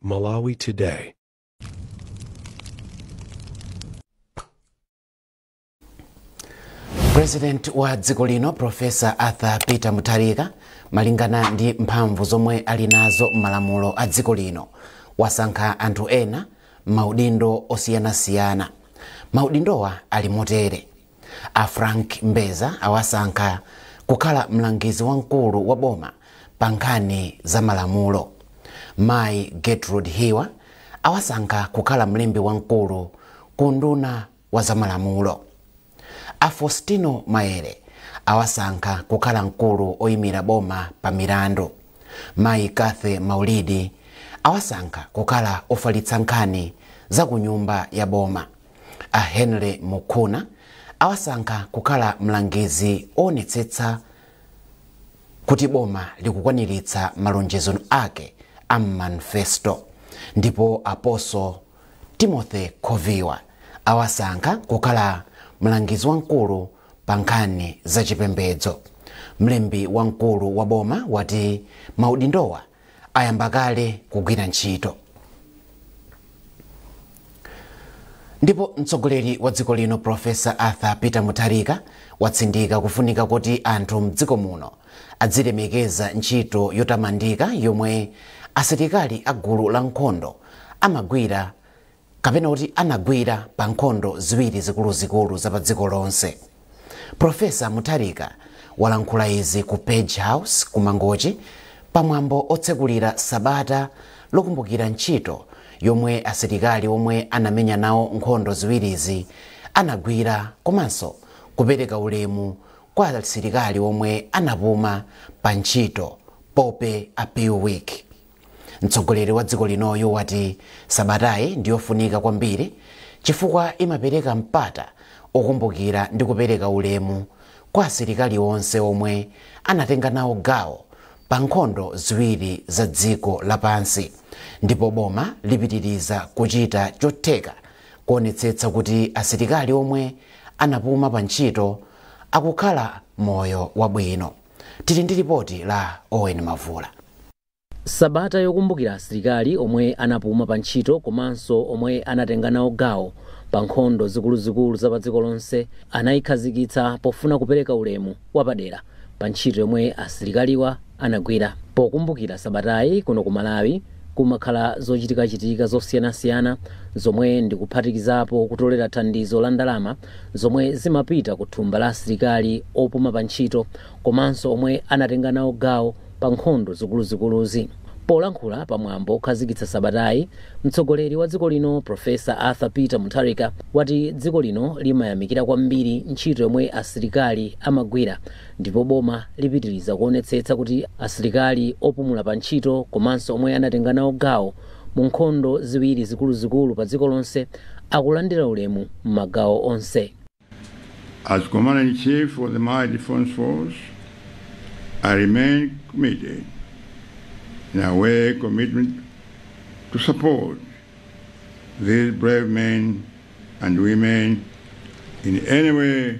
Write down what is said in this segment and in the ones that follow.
Malawi Today. president wa dziko lino profesa arthur peter mutharika malingana ndi mphamvu zomwe ali nazo m'malamulo a dziko lino wasankha anthu ena m'maudindo osiyanasiyana maudindowa ali motere A Frank Mbeza awasankha kukhala mlangizi wamkulu wa boma pa nkhani za malamulo. Mayi Gertrude Hiwa awasankha kukhala mlembi wamkulu ku unduna wa zamalamulo. A Fostino Maele awasankha kukhala mkulu oyimira boma pa milandu. Mayi Cathy Maulidi awasankha kukhala ofalitsa nkhani za ku nyumba ya boma. A Henry Mukhuna awasankha kukhala mlangizi owonetsetsa kuti boma likukwaniritsa malonjezo ake a m'manifesto ndipo Apostle Timothy Khoviwa awasankha kukhala mlangizi wamkulu pa nkhani za chipembedzo. Mlembi wamkulu wa boma wati maudindowa ayamba kale kugwira ntchito ndipo mtsogoleri wa dziko lino profesa arthur peter mutharika watsindika kufunika kuti anthu mdziko muno adzilemekeza ntchito yotamandika yomwe asilikali a gulu la nkhondo amagwira kapena kuti anagwira pa nkhondo ziwiri zikuluzikulu za pa dziko lonse. Professor Mutharika walankhula izi ku Page House ku Mangochi pa mwambo otsekulira sabata lokumbukira ntchito yomwe asilikali omwe anamenya nawo nkhondo ziwirizi anagwira komanso kupereka ulemu kwa asilikali omwe anapuma pa ntchito Poppy Appeal Week. Mtsogoleri wa dziko linoyu wati sabatayi ndiyofunika kwambiri chifukwa imapereka mpata okumbukira ndi kupereka ulemu kwa asilikali onse omwe anatenga nawo gawo pa nkhondo ziwiri za dziko lapansi ndipo boma lipitiriza kuchita chotheka kuonetsetsa kuti asilikali omwe anapuma pa ntchito akukhala moyo wabwino. Tili ndi lipoti la Owen Mavula. Sabata yokumbukira asilikali omwe anapuma pa ntchito komanso omwe anatenga nawo gawo pa nkhondo zikuluzikulu za padziko lonse anayikhazikitsa pofuna kupereka ulemu wapadera pa ntchito yomwe asilikaliwa anagwira. Pokumbukira sabatayi kuno ku Malawi kumakhala zochitikachitika zosiyanasiyana zomwe ndi kuphatikizapo kutolera thandizo la ndalama, zomwe zimapita ku thumba la asilikali opuma pa ntchito komanso omwe anatenga nawo gawo pa nkhondo zikuluzikuluzi. Polankhula pa mwambo okhazikitsa sabatayi, mtsogoleri wa dziko lino Professor Arthur Peter Mutharika wati dziko lino limayamikira kwambiri ntchito yomwe asilikali amagwira ndipo boma lipitiriza kuonetsetsa kuti asilikali opumula pa ntchito komanso omwe anatenga nawo gawo mu nkhondo ziwiri zikuluzikulu padziko lonse akulandira ulemu m'magawo onse. As Commander-in-Chief of the Malawi Defense Force, I remain committed in our commitment to support these brave men and women in any way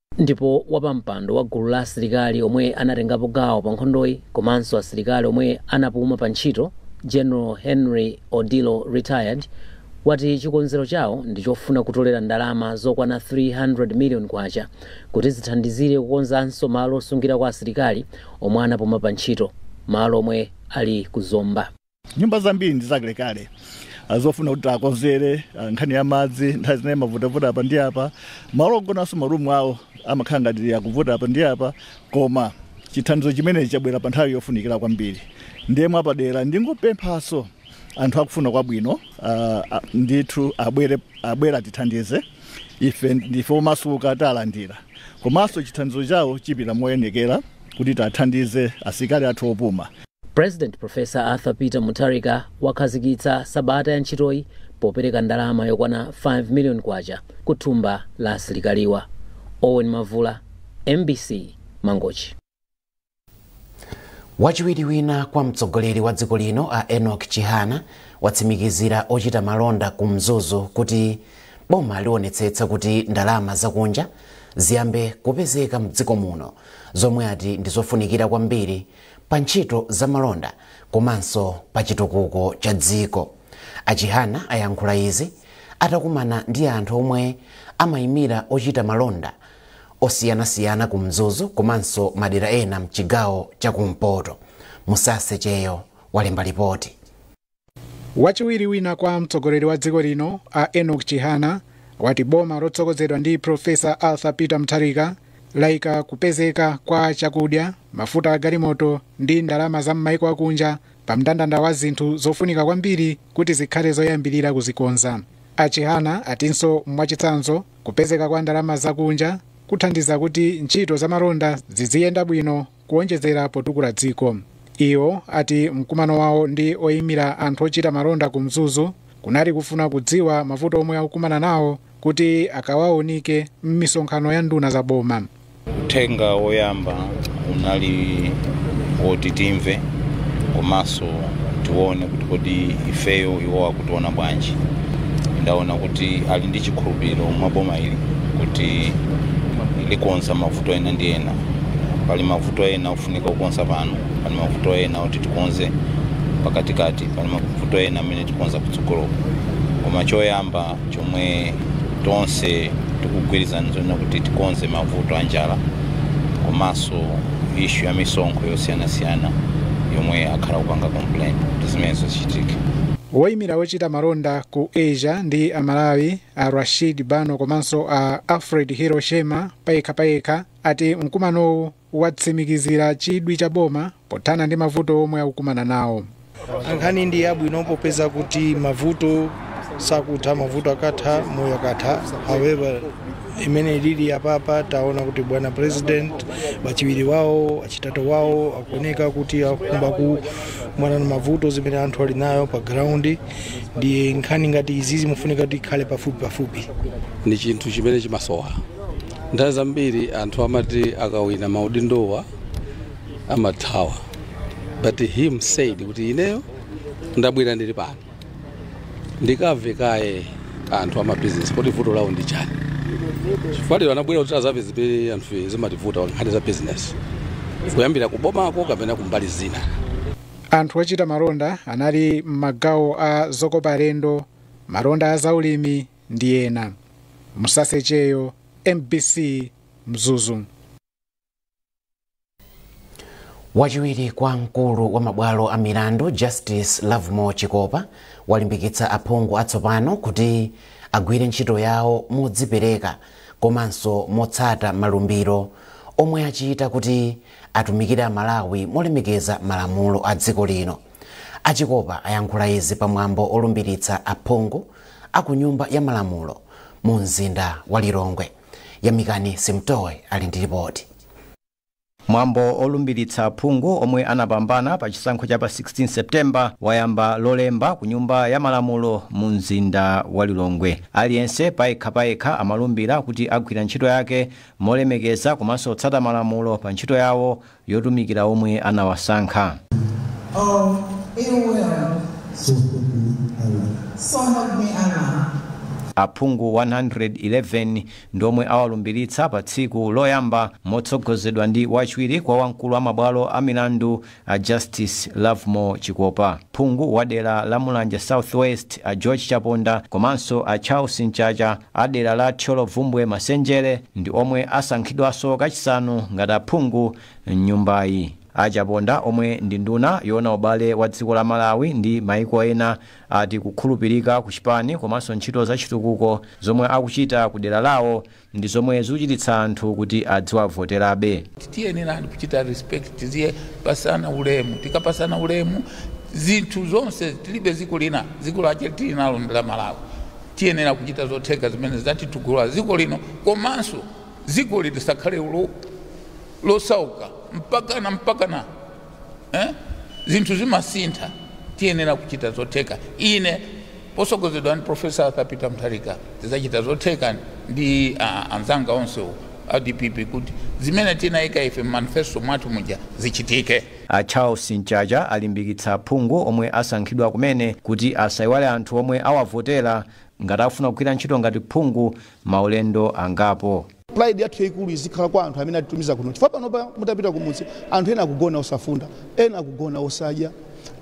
Ndipo wapampando wa gulu la asilikali omwe anatengapo gawo pa nkhondoyi komanso asilikali omwe anapuma pa ntchito, General Henry Odillo Retired, wati chikonzero chawo ndi chofuna kutolera ndalama zokwana 300 million kwacha kuti zithandizire kukonzanso malo osungirako asilikali omwe anapuma pa ntchito, malo omwe ali ku Zomba. nyumba zambiri ndi zakalekale ah, zofuna kuti takonzere ah, nkhani ya madzi nthawi zina imavutavuta apa ndi apa malo ogonanso ma room awo amakhala ngati akuvuta apa ndi apa koma chithandizo chimenechi chabwera pa nthawi yofunikira kwambiri ndiye mwapadera ndingopemphanso anthu akufuna kwabwino ah, ah, ndithu abwere atithandize ife ndife omasuka talandira komanso chithandizo chawo chipita moyenekera kuti tathandize asilikali athu opuma President Prof. Arthur Peter Mutharika wakhazikitsa sabata ya ntchitoyi popereka ndalama yokwana 5 million kwacha ku thumba la asilikaliwa. Owen Mavula, MBC, Mangochi. wachiwiri wina kwa mtsogoleri wa dziko lino a Enoch Chihana watsimikizira ochita malonda ku Mzuzu kuti boma lionetsetsa kuti ndalama zakunja ziyambe kupezeka mdziko muno zomwe ati ndizofunikira kwambiri pa ntchito za malonda komanso pa chitukuko cha dziko. A Chihana ayankhula izi atakumana ndi anthu omwe amayimira ochita malonda osiyanasiyana ku Mzuzu komanso madera ena mchigawo cha kumpoto. Musase Cheyo walemba lipoti. Wachiwiri wina kwa mtsogoleri wa dziko lino a Enoch Chihana wati boma lotsogozedwa ndi Professor Arthur Peter Mutharika laika kupezeka kwa chakudya, mafuta a galimoto ndi ndalama za m'maiko akunja pa mndandanda wa zinthu zofunika kwambiri kuti zikhale zoyambirira kuzikonza. A Chihana atinso mwachitsanzo kupezeka kwa ndalama zakunja kuthandiza kuti ntchito zamalonda ziziyenda bwino kuonjezera potukula dziko iwo ati mkumano wawo ndi oyimira anthu ochita malonda ku mzuzu kunali kufuna kudziwa mavuto omwe akukumana nawo kuti akawaonike m'misonkhano ya nduna za boma uthenga woyamba unali woti timve komanso tione kuti kodi ifeyo iwo akutiona bwanji ndaona kuti ali ndi chikhulupiriro mwa boma ili kuti likonza mavuto ena ndi ena pali mavuto ena ofunika kukonza pano pali mavuto ena oti tikonze pakatikati pali mavuto ena amene tikonza kutsogoloko koma choyamba chomwe tonse tikugwirizana nzonena kuti tikonze mavuto a njala komanso ishu ya misonkho yosiyanasiyana yomwe akhala akupanga complain kuti zimenezo zichitike woyimira ochita malonda ku asia ndi amalawi a rashid bano komanso a alfred hiroshima payekhapayekha ati mkumanowu watsimikizira chidwi cha boma pothana ndi mavuto omwe akukumana nawo ankhani ndi yabwino popeza kuti mavuto sakutha mavuto akatha moyo akatha however imene lili apapa taona kuti bwana president wachiwiri wawo achitatu wawo akuoneka kuti akukhumba kukumana na mavuto zimene anthu ali nayo pa ground ndiye nkhani ngati izi zimafunika kuti ikhale pafupi pafupi ndi chinthu chimene chimasowa nthawi zambiri anthu amati akawina maudindowa amathawa but him said kuti ineyo ndabwera ndili pano ndikamve kaye anthu amabizinesi kuti vuto lawo ndi chani chifukwa lero anabwera kuti azamve zimene anthu zimativuta nkhani za bizinesi kuyambira kubomako kapena kumbali zina Anthu ochita malonda anali m'magawo a zokopa alendo, malonda a zaulimi ndi ena. Musase Cheyo, mbc, Mzuzu. Wachiwiri kwa mkulu wa mabwalo a milandu Justice Lovemore Chikopa walimbikitsa aphungu atsopano kuti agwire ntchito yawo modzipereka komanso motsata malumbiro omwe achita kuti atumikire a Malawi molemekeza malamulo a dziko lino. A Chikopa ayankhula izi pa mwambo olumbiritsa aphungu a ku nyumba ya malamulo mu mzinda wa Lilongwe. Yamikani Simtowe ali ndi lipoti. Mwambo olumbiritsa aphungu omwe anapambana pa chisankho cha pa 16 September wayamba lolemba ku nyumba ya malamulo mu mzinda wa Lilongwe. Aliyense payekha payekha amalumbira kuti agwira ntchito yake molemekeza komanso otsata malamulo pa ntchito yawo yotumikira omwe anawasankha. of ill will. So help me Allah. Aphungu 111 ndi omwe awalumbiritsa pa tsiku loyamba motsogozedwa ndi wachiwiri kwa wamkulu wa mabwalo a milandu A Justice Lovemore Chikopa, phungu wa dera la Mulanje South West a George Chaponda komanso a Charles Mchacha a dera la Thyolo Bvumbwe Masenjere ndi omwe asankhidwaso kachisanu ngati aphungu m'nyumbayi. A Chaponda omwe ndi nduna yoona ubale wa dziko la Malawi ndi maiko ena ati kukhulupirika ku chipani komanso ntchito za chitukuko zomwe akuchita ku dera lawo ndi zomwe zikuchititsa anthu kuti adziwavoterabe. Tiyenera kuchita respect, tizipasana ulemu, tikapasana ulemu zinthu zonse tilibe dziko lina, dziko lache tili nalo ndi la Malawi. Tiyenera kuchita zotheka zimene zidzatitukula dziko lino komanso dzikoli lisakhale losauka mpakana mpakana. eh? zinthu zimasintha tiyenera kuchita zotheka ine posogozedwa ndi profesa arthur peter mutharika tidzachita zotheka ndi uh, anzanga onse a dpp kuti zimene tinayika ife m'manifesto mwathu muja zichitike a charles mchacha alimbikitsa aphungu omwe asankhidwa kumene kuti asayiwale anthu omwe awavotera ngati akufuna kugwira ntchito ngati phungu maulendo angapo pride yathu yaikulu izikhala kwa anthu amene atitumiza kuno chifukwa panopa mutapita kumudzi anthu ena akugona osafunda ena akugona osadya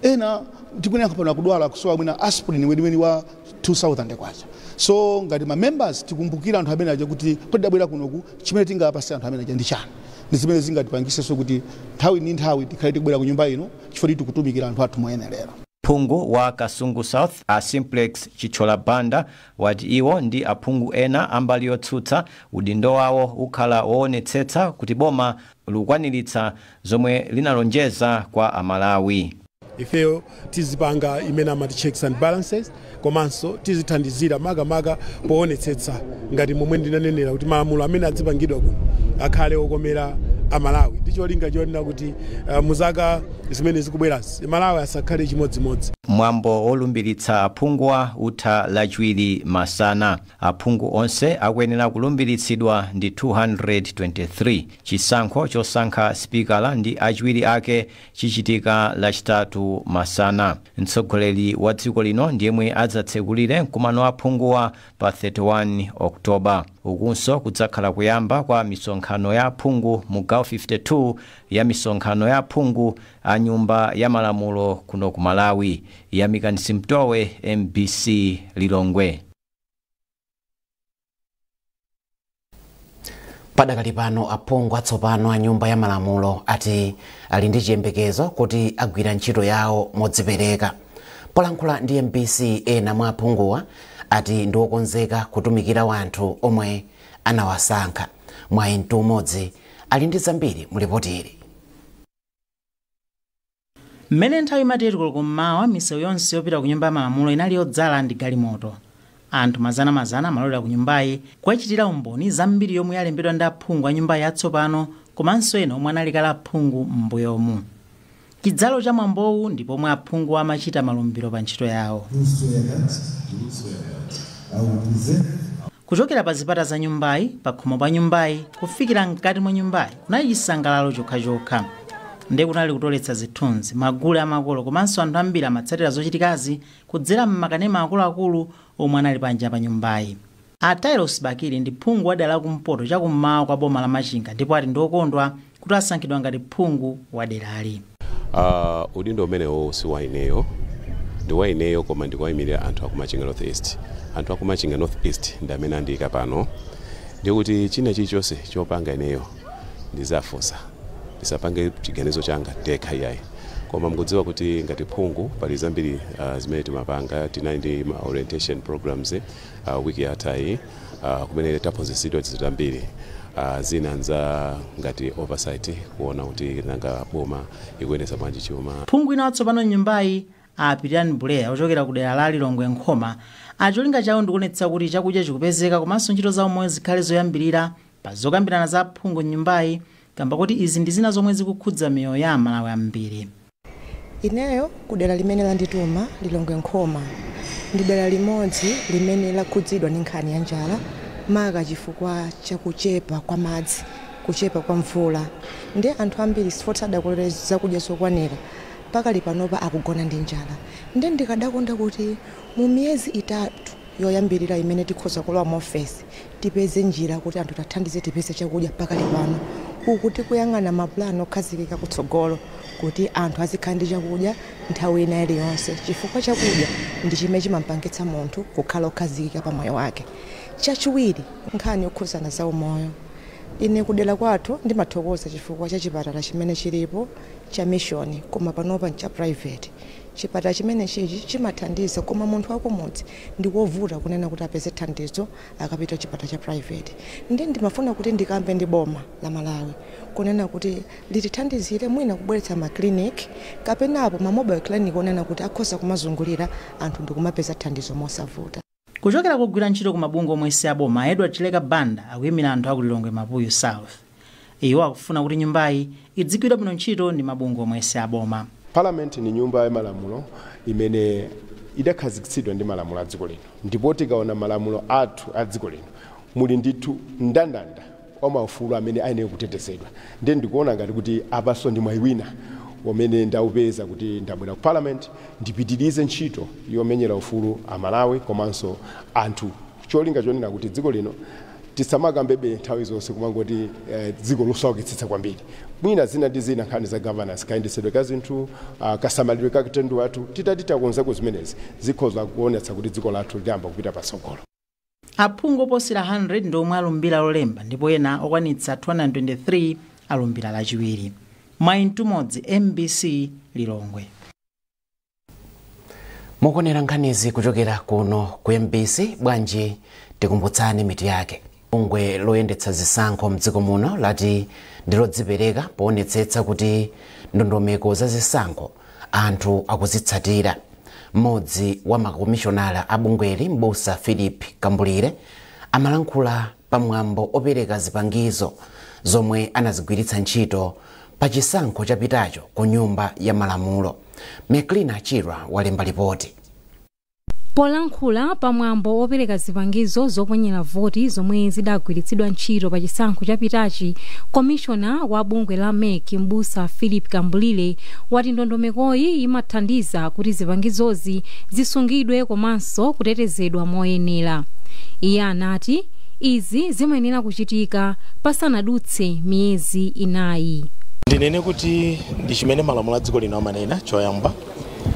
ena tikunena pano akudwala akusowa mwina aspirin weniweni wa 2000 kwacha so ngati ma members tikumbukira anthu amene aja kuti kodabwera kunoku chimene tingapase anthu amene aja ndi chani ndi zimene zingatipangisenso kuti nthawi ndi nthawi tikhale tikubwera ku nyumba ino chifukwa tikutumikira anthu athu moyenerera Phungu wa Kasungu South a Simplex Chithyola Banda wati iwo ndi aphungu ena a mbali yotsutsa udindo wawo ukhala woonetsetsa kuti boma lukwaniritsa zomwe linalonjeza kwa a Malawi. Ifeyo tizipanga imene amati checks and balances. komanso tizithandizira makamaka poonetsetsa ngati momwe ndinanenera kuti malamulo amene adzipangidwa kuno akhale okomera amalawi ndi cholinga chonena kuti uh, muzaka zimene zikubwerazi malawi asakhale chimodzimodzi mwambo wolumbiritsa aphunguwa utha lachiwiri masana aphungu onse akuyenera kulumbiritsidwa ndi 223 chisankho chosankha sipikala ndi achiwiri ake chichitika lachitatu masana. Mtsogoleri wa dziko lino ndi yemwe adzatsekulire mkumano wa aphunguwa pa 31 October. Ukunso kudzakhala kuyamba kwa misonkhano ya aphungu mu gawo 52 ya misonkhano ya aphungu a nyumba ya malamulo kuno ku Malawi. Yamikani Simtowe, mbc Lilongwe. padakali pano aphungu atsopano a nyumba ya malamulo ati ali ndi chiyembekezo kuti agwira ntchito yawo modzipereka polankhula ndi mbc ena mwa aphunguwa ati ndi okonzeka kutumikira wanthu omwe anawasankha mwayi mtumodzi ali ndi zambiri mu lipotili Mmene nthawi imati 8 koloko m'mawa, misewu yonse yopita ku Nyumba ya Malamulo inali yodzala ndi galimoto. Anthu mazanamazana amalowera kunyumbayi kukachitira umboni zambiri yomwe yalembedwa ndi aphungu a nyumbayi atsopano komanso ena omwe anali kale aphungu m'mbuyomu. Chidzalo cha mwambowu ndi pomwe aphunguwa amachita malumbiro pa ntchito yawo. Luso ya Dati, Luso ya Dati. I will present. Kuchokera pa zipata za nyumbayi, pakhomo pa nyumbayi, kufikira mkati mwa nyumbayi kunali chisangalalo chokhachokha. Nde kunali kutoletsa zithunzi, magule a makolo komanso anthu ambiri amatsatira zochitikazi kudzera m'makanema akuluakulu omwe anali panja pa nyumbayi. A Tailosi Bakili ndi phungu wa dera la kumpoto chakum'mawa kwa boma la Machinga ndipo ati ndi okondwa kuti asankhidwa ngati phungu wa derali. Uh, udindo umenewo si wa ineyo ndi wa ineyo koma ndikuwayimirira anthu akumachinga north east anthu akumachinga north east ndi amene andiyika pano ndikuti china chilichonse chopanga ineyo ndizafunsa ndisapange chiganizo changa ndekha iyayi koma mukudziwa kuti ngati phungu pali zambiri uh, zimene timapanga tinali ndi ma orientation programs Week yathayi kumene taphunzitsidwa zambiri, zina ndi za ngati oversight kuona kuti nanga boma ikuyendetsa bwanji chuma. Phungu wina watsopano m'nyumbayi, a Pitilani Buleya, ochokera kudera la Lilongwe Nkhoma, ati cholinga chawo ndikuonetsa kuti chakudya chikupezeka komanso ntchito za umoyo zikhale zoyambilira pa zokambirana za aphungu m'nyumbayi kamba koti izi ndizina zomwe zikukhudza miyoyo ya aMalawi ambiri. Ineyo ku dera limene landituma, Lilongwe Nkhoma, ndi dera limodzi limene lakhudzidwa ndi nkhani ya njala maka chifukwa cha kuchepa kwa madzi, kuchepa kwa mvula nde anthu ambiri sikuti adakolola zakudya zokwanira pakali panopa akugona ndi njala nde ndikadakonda kuti mu miyezi itatu yoyambilira imene tikhoza kulowa mu ofesi Tipeze njira kuti anthu tathandize tipeze chakudya pakali pano uku tikuyang'ana ma plan okhazikika kutsogolo kuti anthu azikhala ndi chakudya nthawi ina iliyonse chifukwa chakudya ndi chimene chimampangitsa munthu kukhala okhazikika pa moyo wake. Chachiwiri, nkhani yokhudzana za umoyo ine kudera kwathu ndimathokoza chifukwa cha chipatala chimene chilipo cha mission koma panopa ncha private. Chipatala chimenechichi chimathandiza koma munthu wakumudzi ndi kovuta kunena kuti apeze thandizo. akapita kuchipatala cha private nde ndimafuna kuti ndikambe ndi boma la Malawi kunena kuti litithandizire mwina kubweretsa ma clinic kapenapo ma mobile clinic onena kuti akhoza kumazungulira anthu ndikumapeza thandizo mosavuta. Kuchokera kugwira ntchito ku mabungwe omwe si aboma, a Edward Chileka Banda akuyimira anthu aku Lilongwe Mapuyu South. Iwo akufuna kuti nyumbayi idzigwira bwino ntchito ndi mabungwe omwe si aboma. Parliament ndi nyumba ya malamulo imene idakhazikitsidwa ndi malamulo a dziko lino ndipo tikaona malamulo athu a dziko lino muli ndithu mndandanda wa maufulu amene ayenera kutetezedwa ndiye ndikuona ngati kuti apanso ndi mwayi wina umene ndaupeza kuti ndabwera ku Parliament ndipitirize ntchito yomenyera ufulu Amalawi komanso anthu cholinga chonena kuti dziko lino Tisamakambebe nthawi zonse kumangoti dziko losaukitsitsa kwambiri. Mwina zina ndi zina nkhani za governance, kayendetsedwe ka zinthu, kasamalidwe ka katundu wathu, titati takonzako zimenezi zikhoza kuonetsa kuti dziko lathu liyamba kupita patsogolo. Aphungu oposera 100 ndi omwe alumbira lolemba ndipo ena okwanitsa 223 alumbira lachiwiri. Mwai Mtumodzi, mbc Lilongwe. mukuonera nkhanizi kuchokera kuno ku mbc bwanji tikumbutsane mitu yake bungwe loyendetsa zisankho mdziko muno lati ndilodzipereka poonetsetsa kuti ndondomeko za zisankho anthu akuzitsatira mmodzi wa makomishonala a bungweli mbusa philip kambulire amalankhula pa mwambo opereka zipangizo zomwe anazigwiritsa ntchito pa chisankho chapitacho ku nyumba ya malamulo. McLina Chirwa walemba lipoti. Polankhula pa mwambo opereka zipangizo zoponyera voti zomwe zidagwiritsidwa ntchito pa chisankho chapitachi, komishona wa bungwe la mec m'busa Philip Kambulire wati ndondomekoyi imathandiza kuti zipangizozi zisungidwe komanso komanso kutetezedwa moyenera. Iye anati izi zimayenera kuchitika pasanadutse miyezi inayi. Ndinene kuti ndi chimene malamulo a dziko lino amanena choyamba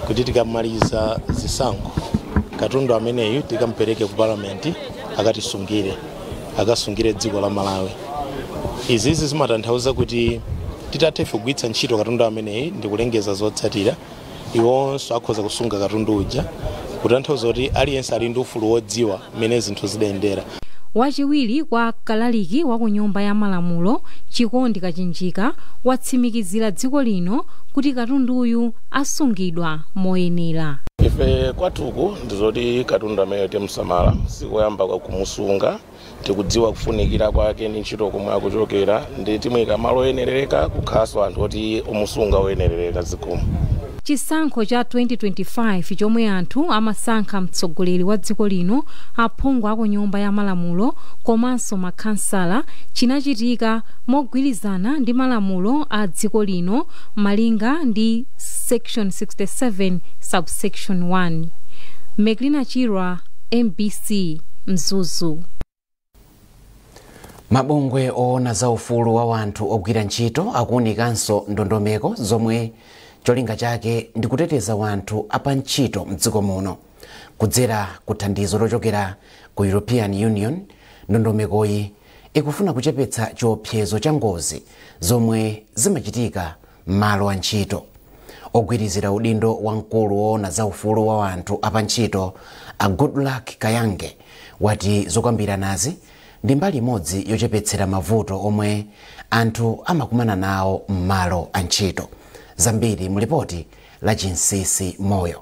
kuti tikamaliza zisankho katundu ameneyu tikampereke ku parliament akatisungire akasungire dziko la Malawi. Izizi zimatanthauza kuti titatha ife kugwiritsa ntchito katundu ameneyi ndi kulengeza zotsatira iwonso akhoza kusunga katundu uja kutanthauza kuti aliyense ali ndi ufulu wodziwa mmene zinthu zidayendera Wachiwiri kwa kalaliki wa ku nyumba ya malamulo, Chikondi Kachinjika, watsimikizira dziko lino kuti katunduyu asungidwa moyenera. Ife kwathuku ndizoti katundu ameneyo timsamala, sikoyamba kumusunga. tikudziwa kufunikira kwake ndi ntchito komwe akuchokera ndi timuyika malo oyenereka kukhalanso anthu oti omusunga oyenereka zikomo Chisankho cha 2025 chomwe anthu amasankha mtsogoleri wa dziko lino, aphungu a ku Nyumba ya Malamulo komanso makhansala chinachitika mogwirizana ndi malamulo a dziko lino malinga ndi section 67 subsection 1. Meklina Chirwa. mbc mzuzu mabungwe oona za ufulu wa wanthu ogwira ntchito akuunikanso ndondomeko zomwe cholinga chake ndi kuteteza wanthu apantchito mdziko muno kudzera ku thandizo lochokera ku european union ndondomekoyi ikufuna kuchepetsa chiopsezo cha ngozi zomwe zimachitika m'malo antchito. Ogwirizira udindo wa mkulu woona za ufulu wa anthu apantchito a Goodluck Kayange wati zokambiranazi ndi mbali imodzi yochepetsera mavuto omwe anthu amakumana nawo m'malo antchito. Zambiri mu lipoti la Chinsinsi Moyo.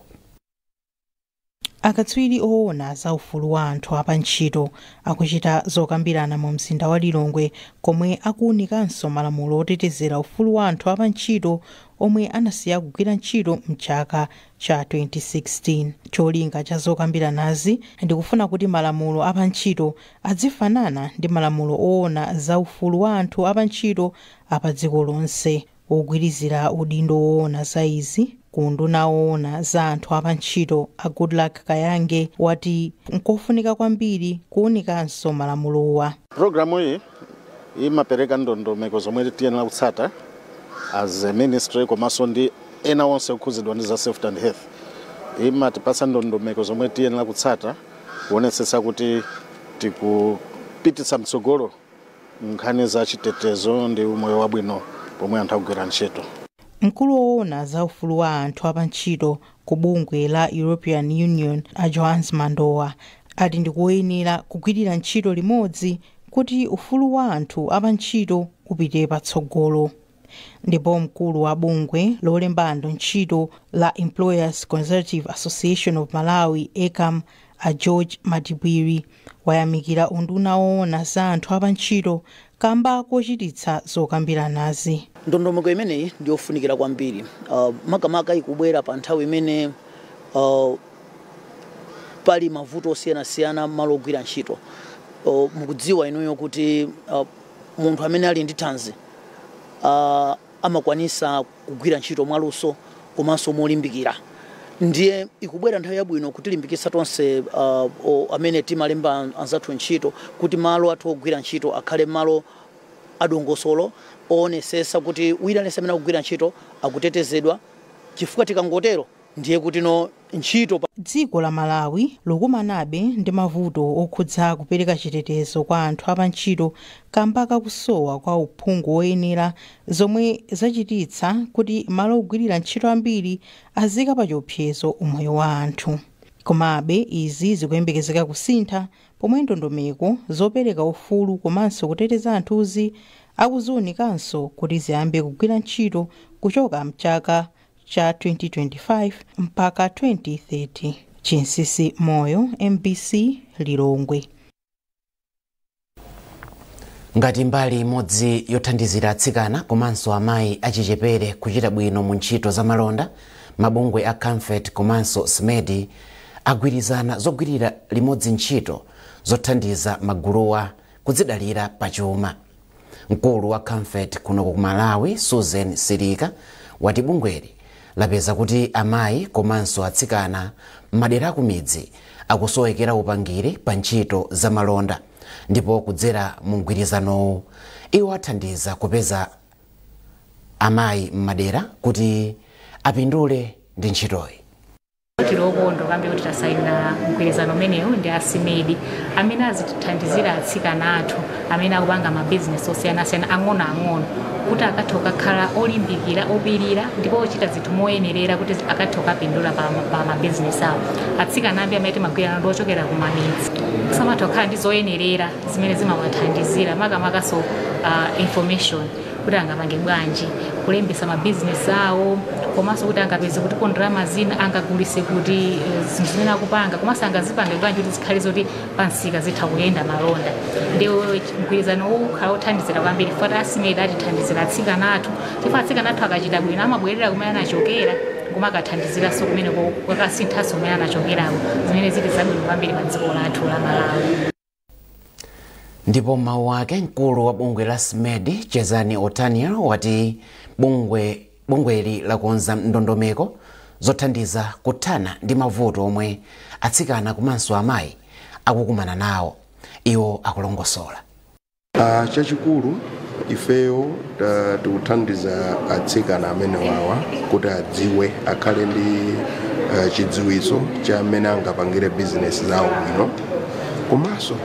Akatswiri owona za ufulu wa anthu a pa ntchito akuchita zokambirana mu mzinda wa Lilongwe komwe akuwunikanso malamulo otetezera ufulu wa anthu a pa ntchito omwe anasiya kugwira ntchito mchaka cha 2016. Cholinga cha zokambiranazi ndikufuna kuti malamulo a pa ntchito adzifanana ndi malamulo owona za ufulu wa anthu a pa ntchito a pa dziko lonse. Wogwirizira udindo woona za izi ku unduna woona za anthu a pa ntchito a Goodluck Kayange wati nkofunika kwambiri kuunikanso malamulowa. Pulogalamuyi imapereka ndondomeko zomwe tiyenera kutsata as a ministry komanso ndi ena onse okhudzidwa ndi za safety and health. Imatipatsa ndondomeko zomwe tiyenera kutsata kuonetsetsa kuti tikupititsa mtsogolo nkhani za chitetezo ndi umoyo wabwino pomwe anthu akugwira ntchito. Mkulu woona za ufulu wa anthu apantchito ku bungwe la European Union a Johannes Mandowa ati ndikoyenera kugwirira ntchito limodzi kuti ufulu wa anthu apantchito upite patsogolo. ndipo mkulu wa bungwe lolemba anthu ntchito la employers consultative association of malawi ecam a george matipwiri wayamikira unduna woona za anthu apantchito kamba kochititsa zokambiranazi ndondomeko imeneyi ndi yofunikira kwambiri uh, makamaka ikubwera pa nthawi imene uh, pali mavuto osiyanasiyana malo ogwira ntchito uh, mukudziwa inuyo kuti uh, munthu amene ali ndi thanzi uh, amakwanisa kugwira ntchito mwaluso komanso molimbikira ndiye ikubwera nthawi yabwino kutilimbikitsa tonse uh, o- amene timalemba anzathu ntchito kuti malo athu ogwira ntchito akhale malo adongosolo oonesesa kuti wina aliyense amene akugwira ntchito akutetezedwa chifukwa tikangotero ndiye kutino ntchito pa. Dziko la Malawi likukumanabe ndi mavuto okhudza kupereka chitetezo kwa anthu apantchito kamba ka kusowa kwa uphungu woyenera zomwe zachititsa kuti malo ogwirira ntchito ambiri aziika pa chiopsezo umoyo wa anthu. Komabe izi zikuyembekezeka kusintha pomwe ndondomeko zopereka ufulu komanso kuteteza anthuzi akuziunikanso kuti ziyambe kugwira ntchito kuchoka mchaka cha 2025 mpaka 2030. Chinsisi Moyo, mbc Lilongwe. ngati mbali imodzi yothandizira atsikana komanso amayi achichepere kuchita bwino mu ntchito za malonda mabungwe a camfed komanso smedi agwirizana zogwirira limodzi ntchito zothandiza maguluwa kudzidalira pachuma mkulu wa camfed kuno ku malawi susan silika wati bungweli lapeza kuti amayi komanso atsikana m'madera akumidzi akusowekera upangiri pa ntchito za malonda ndipo kudzera mu mgwirizanowu iwo athandiza kupeza amayi m'madera kuti apindule ndi ntchitoyi tili okondwa kwambiri kuti tasayina mgwirizano umenewu ndi a smedi amene azitithandizira atsikana athu amene akupanga mabizinesi osiyanasiyana ang'onoang'ono kuti akathe kukakhala olimbikira opirira ndipo ochita zinthu moyenerera kuti akathe kukapindula pa, pa mabizinesi awo atsikana ambiri amene timagwira nawo ndi ochokera ku mamidzi samatha kukhala ndi zoyenerera zimene zimawathandizira makamakanso uh, information kuti angapange bwanji kulembesa mabizinesi awo komanso kuti angapeze kuti ndalama zina angagulise kuti eh, zinthu zimene akupanga komanso angazipange bwanji kuti zikhale zoti pamsika zitha kuyenda malonda ndi mgwirizano uwu ukhala wothandizira kwambiri poti a smedi atithandizira atsikana athu chifukwa atsikana athu akachita bwino amabwerera kumene anachokera nkumakathandiziranso kumene kukasinthanso kumene anachokerawo zimene zili zabwino kwambiri pa dziko lathu la malawi ndipo m'mawu ake mkulu wa bungwe la smedi chezani otaniel wati bungweli lakonza ndondomeko zothandiza kuthana ndi mavuto omwe atsikana komanso amayi akukumana nawo iwo akulongosola Ah, chachikulu ifeyo ta- tikuthandiza atsikana amene wawa kuti adziwe akhale ndi ah, chidziwitso cha mmene angapangire bizinesi zawo bwino komanso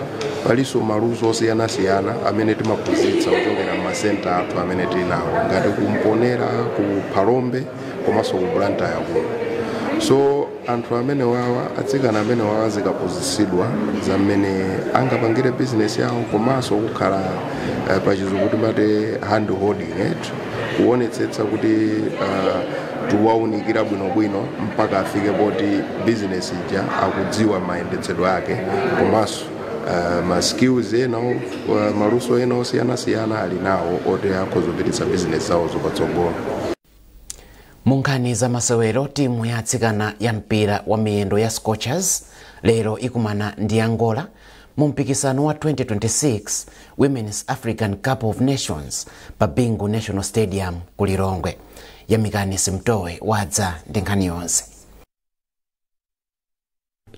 palinso maluso osiyanasiyana amene timaphunzitsa kuchokera m'masenta athu amene tili nawo ngati kumponera ku phalombe komanso ku blantyre kuno so Anthu amenewawa, atsikana amenewawa azikaphunzitsidwa za mmene angapangire bizinesi yawo komanso kukhala eh, pachizungu timati hand holding it kuonetsetsa kuti ah, tiwaunikira bwinobwino mpaka afike poti bizinesi ija akudziwa mayendetsedwe ake komanso ah, ma skills ena o- ah, maluso ena osiyanasiyana ali nawo oti akhoza kupititsa bizinesi zawozo patsogolo munkhani za masewero timu ya atsikana ya mpira wa miyendo ya scorchers lero ikumana ndi angola mu mpikisano wa 2026 women's african cup of nations pa bingu national stadium ku lilongwe yamikani simtowe wadza ndi nkhani yonse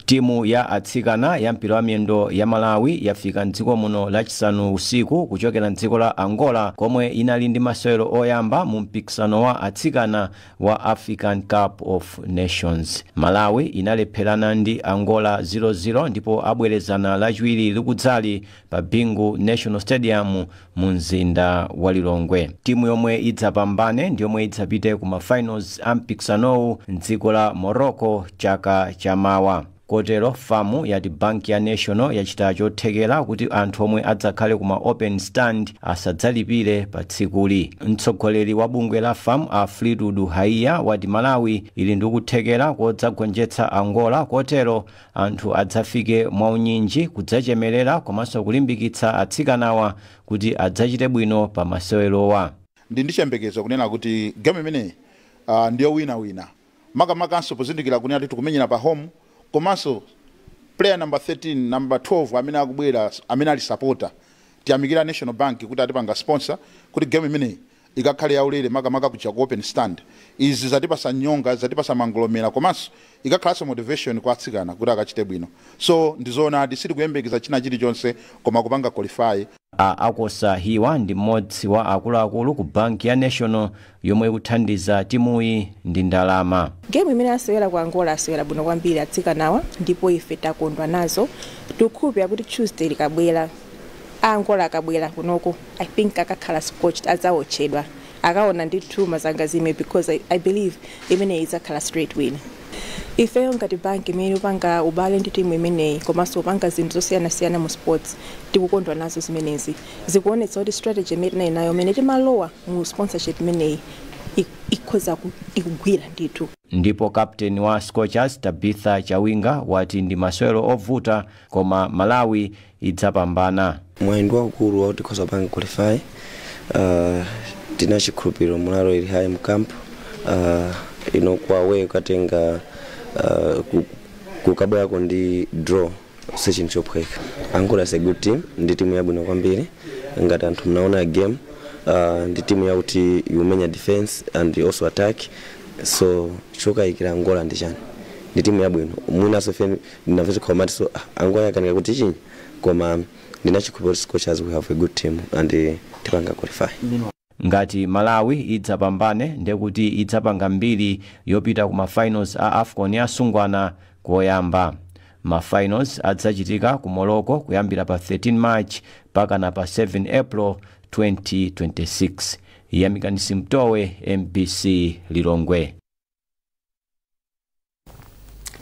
Timu ya atsikana ya mpira wa miyendo ya Malawi yafika m'dziko muno lachisanu usiku kuchokera m'dziko la Angola komwe inali ndi masewero oyamba mu mpikisano wa atsikana wa African Cup of Nations. Malawi inalepherana ndi Angola 0-0 ndipo abwerezana lachiwiri likudzali pa Bingu National Stadium mu mzinda wa Lilongwe. Timu yomwe idzapambane ndiyomwe idzapite ku ma finals a mpikisanowu m'dziko la Morocco chaka cha mawa. Kotero fam yati banki ya National yachita chothekera kuti anthu omwe adzakhale ku ma open stand asadzalipire pa tsikuli. Mtsogoleri wa bungwe la fam a Fleetwood Haiya wati Malawi ili ndi kuthekera kodzagonjetsa Angola kotero Anthu adzafike mwaunyinji kudzachemerera komanso kulimbikitsa atsikanawa kuti adzachite bwino pa masewerowa. Ndili ndi chiyembekezo kunena kuti game imeneyi ndi yowinawina makamakanso pozindikira kunena kuti tikumenyera pa home komanso player number 13, number 12 amene akubwera amene ali supporter tiyamikire National Bank kuti atipanga sponsor kuti game imeneyi Ikakhale yaulere makamaka kuja ku open stand. Izi zatipasa nyonga, zatipasa mangolomera komanso ikakhalanso motivation kwa atsikana kuti akachite bwino. So ndizoonadi sitikuyembekeza china chilichonse koma kupanga qualify. A Akosa Hiwa ndi mmodzi wa akuluakulu ku banki ya National yomwe ikuthandiza timuyi ndi ndalama. Game imene asewera ku Angola asewera bwino kwambiri atsikanawa ndipo ife takondwa nazo. Tikukhulupirira kuti Tuesday likabwera. A Angola akabwera kunoko I think akakhala scorched, adzaotchedwa. Akaona ndithu mazangazime because I, I believe imeneyi idzakhala straight win. Ifeyo ngati bank imene ikupanga ubale ndi timu imeneyi komanso kupanga zinthu zosiyanasiyana mu sports tikukondwa nazo zimenezi. Zikuonetsa kuti strategy imene tinali nayo imene timalowa mu sponsorship imeneyi ik- ikhoza ku- ikugwira ndithu. Ndipo captain wa Scorchers, Tabitha Chawinga, wati ndi masewero ovuta koma Malawi idzapambana. Mwayi ndi waukulu wakuti tikhoza kupanga qualify uh, tili ndi chikhulupiriro morale ili high mcamp uh, ino kwawe ukatenga uh, ku- kukabwerako ndi draw si chinthu chophweka angola is a good team ndi timu yabwino kwambiri ngati anthu munaona game uh, ndi timu yakuti ikumenya defense and also attack so chokayikira angola ndi chani ndi timu yabwino mwinaso ndinamva chikho amatiso Angola yakanika kuti chi koma ndili ndi chikhulupiriro kuti scorchers we have a good team and tipanga qualify Ngati Malawi idzapambane ndekuti idzapanga mbiri yopita ku ma finals a afcon ya asungwana koyamba. Ma finals adzachitika ku Morocco kuyambira pa 13 March mpakana pa 7 April 2026. Yamikani Simtowe, MBC Lilongwe.